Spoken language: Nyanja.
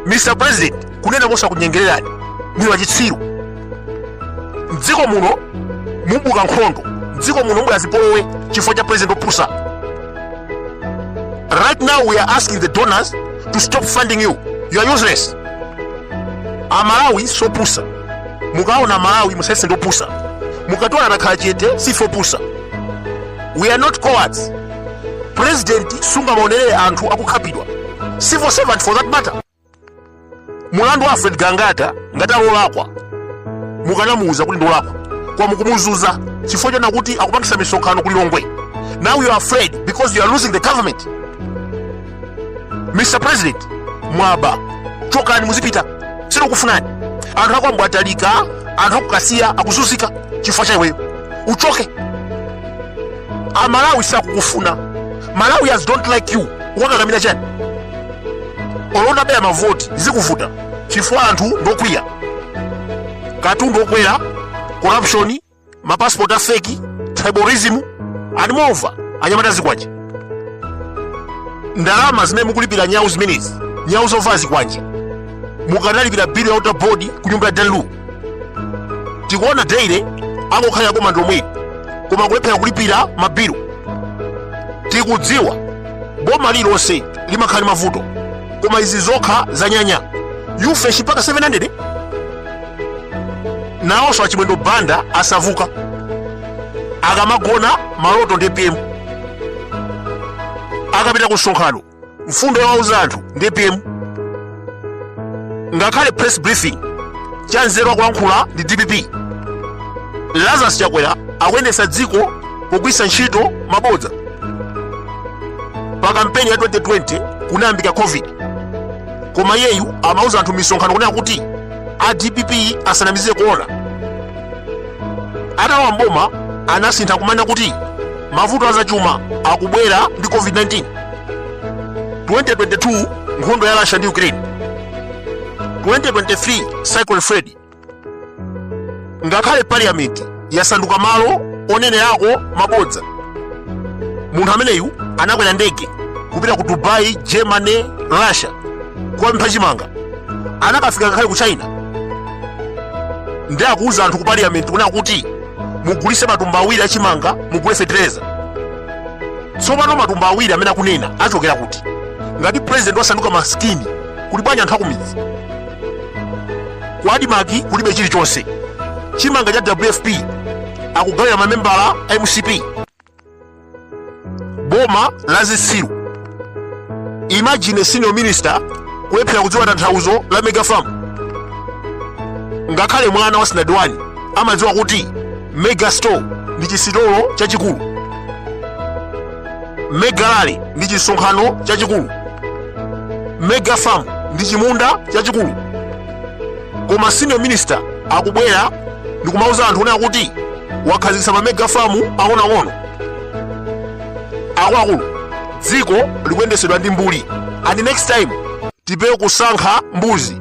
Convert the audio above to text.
mr president kunena mosakunyengererani muli wachitsiru mdziko muno mubuka nkhondo mdziko muno mubwera zipolowe chifukwa cha president opusa right now we are asking the donors to stop funding you you are useless amalawi sopusa mukaona amalawi musayese ndopusa mukationa takhala chete sife opusa we are not cowards pulezidenti sungamaonelere anthu akukhapidwa civil servant for that matter mulandu wa alfred gangata ngati ali olakwa mukanamuwuza kuti ndolakwa koma mukumuzunza chifukwa chonena kuti akupangisa misonkhano ku lilongwe now you are afraid because you are losing the government mr president mwaba chokani muzipita sitikufunani anthu akwa mbwatalika anthu aku kasiya akuzunzika chifukwa cha iweyo uchoke amalawi sakukufuna malawians don't like you ukukakamira chani olo mutabera mavoti zikuvuta chifukwa anthu ndokwiya katundu okwera corruption mapassport a feki tribalism and moreover anyamata a zikwanje ndalama zimene mukulipira nyawu zimenezi nyawu zova zikwanje mukanalipira bill ya water board ku nyumba ya dan lu tikuona daily angokhalira boma ndi lomweli koma kulephera kulipira mabilu tikudziwa boma lililonse limakhala ndi mavuto koma izi zokha zanyanya u-fresh mpaka 700 nawonso achimwendo banda asauka akamagona maloto ndi apm akapita ku msonkhano mfundo yowauza anthu ndi apm ngakhale press briefing cha nzeru akulankhula ndi dpp lazarus chakwera akuyendetsa dziko pogwiritsa ntchito mabodza pa kampeni ya 2020 kunayambika covid koma iyeyu amauza anthu mmisonkhano kunena kuti a dpp asanamizire corona atalowa mboma anasintha kumanena kuti mavuto azachuma akubwera ndi covid-19 2022 nkhondo ya russia ndi ukraine 2023 cyclone freddy ngakhale parliament yasanduka malo onenerako mabodza munthu ameneyu anakwera ndege kupita ku dubai germany russia kukapempha chimanga anakafika ngakhale ku china ndi akuwuza anthu ku parliament kunena kuti mugulise matumba awiri achimanga mugule fetereza tsopano matumba awiri amene akunena achokera kuti ngati president wasanduka maskini kuli bwanji anthu akumidzi ku admarc kulibe chilichonse chimanga cha wfp akugawira mamembala a mcp boma la zisiru imagine senior minister kulephera kudziwa tanthauzo la mega farm ngakhale mwana wa standard 1 amadziwa kuti mega store ndi chisitolo chachikulu mega rally ndi chisonkhano chachikulu mega farm ndi chimunda chachikulu koma senior minister akubwera ndikumauza anthu kunena kuti wakhazikitsa ma mega farm ang'onoang'ono akuluakulu dziko likuyendesedwa ndi mbuli and next time tipewe kusankha mbuzi